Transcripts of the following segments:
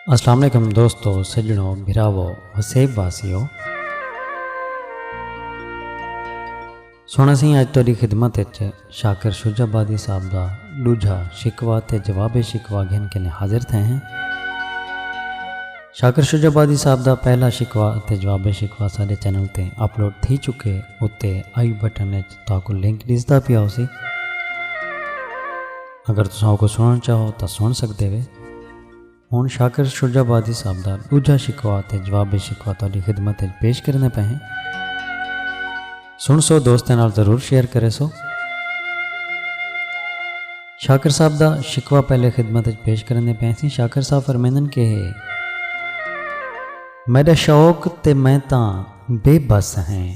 السلام علیکم دوستو سجنو بھراو وسیب واسیو سونا سی اج تیری خدمت اچ شاکر شجا بادی صاحب دا دوجھا شکوا تے جواب شکوا گھن کے نے حاضر تھے ہیں شاکر شجا بادی صاحب دا پہلا شکوا تے جواب شکوا سارے چینل تے اپلوڈ تھی چکے اتے آئی بٹن اچ تاکو لنک ڈسدا پیا ہو سی اگر تساں کو سنن چاہو تا سن سکتے وے ہن شاکر شجا بادی صاحب دا دوجا شکوا تے جواب شکوا تہاڈی خدمت وچ پیش کرنے پے ہیں سن سو دوستاں نال ضرور شیئر کرے سو شاکر صاحب دا شکوا پہلے خدمت وچ پیش کرنے پے سی شاکر صاحب فرمیندن کہ میڈا شوق تے میں تاں بے بس ہیں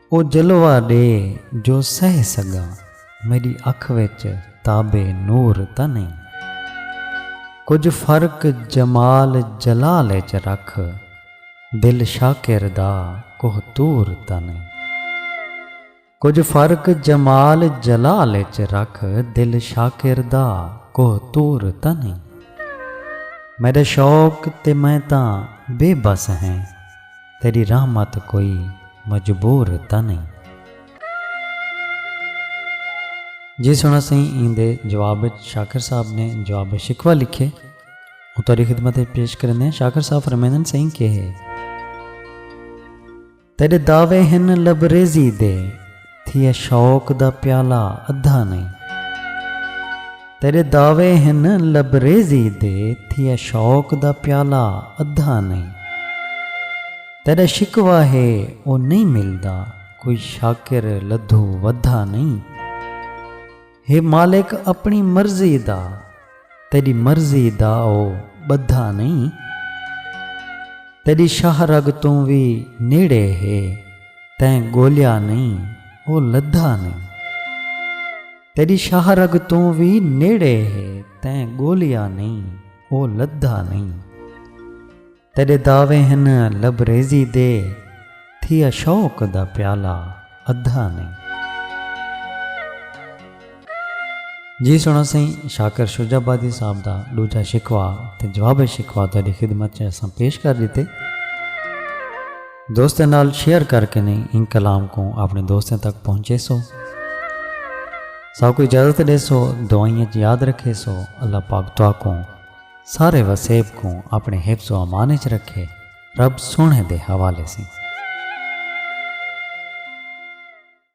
او جلوہ ݙے جو سہہ سڳاں میݙی اکھ وچ تاب نور تاں نئیں کجھ فرق جمال جلال اچ رکھ دل شاکر دا کوہ طور تاں نئیں کجھ فرق جمال جلال اچ رکھ دل شاکر دا کوہ طور تاں نئیں میݙا شوق تے میں تاں بے بس ہیں۔ تیݙی رحمت کوئی مجبور تاں نئیں۔ جی سݨا سئیں ایندے جواب اچ شاکر صاحب نے جواب شکوہ لکھئے او تہاݙی خدمت اچ پیش کریندیاں شاکر صاحب فرمیندن سئیں کیہے تیݙے دعوے ہن لبریزی دے۔ تھیے شوق دا پیالہ ادھا نئیں۔ تیڈے دعوے ہن لبریزی دے تھیے شوق دا پیالہ ادھا نئیں۔ تیڈا شکوہ ہے او نئیں ملدا کوئی شاکر لدھو ودھا نئیں۔ ہے مالک اپݨی مرضی دا تیݙی مرضی دا او ٻدھا نئیں تیݙی شاہ رگ توں وی نیڑے ہے تیں ڳولیا نئیں او لدھا نئیں تیݙی شاہ رگ توں وی نیڑے ہے تیں ڳولیا نئیں او لدھا نئیں۔ تیݙے دعوے ہن لبریزی دے تھیا شوق دا پیالہ ادھا نئیں۔ جی سݨاں سئیں شاکر شجاع آبادی صاحب دا ݙوجھا شکوہ تے جواب شکوہ تہاݙی خدمت چ اساں پیش کر ݙتے۔ دوستاں نال شیئر کر کے نئیں ایں کلام کوں آپݨے دوستاں تک پہنچیسو۔ ساکوں اجازت ݙیسو دعائیں چ یاد رکھیسو اللہ پاک تہاکوں۔ سارے وسیب کوں اپنے حفظ و امان اچ رکھے رب سوہنے دے حوالے سیں۔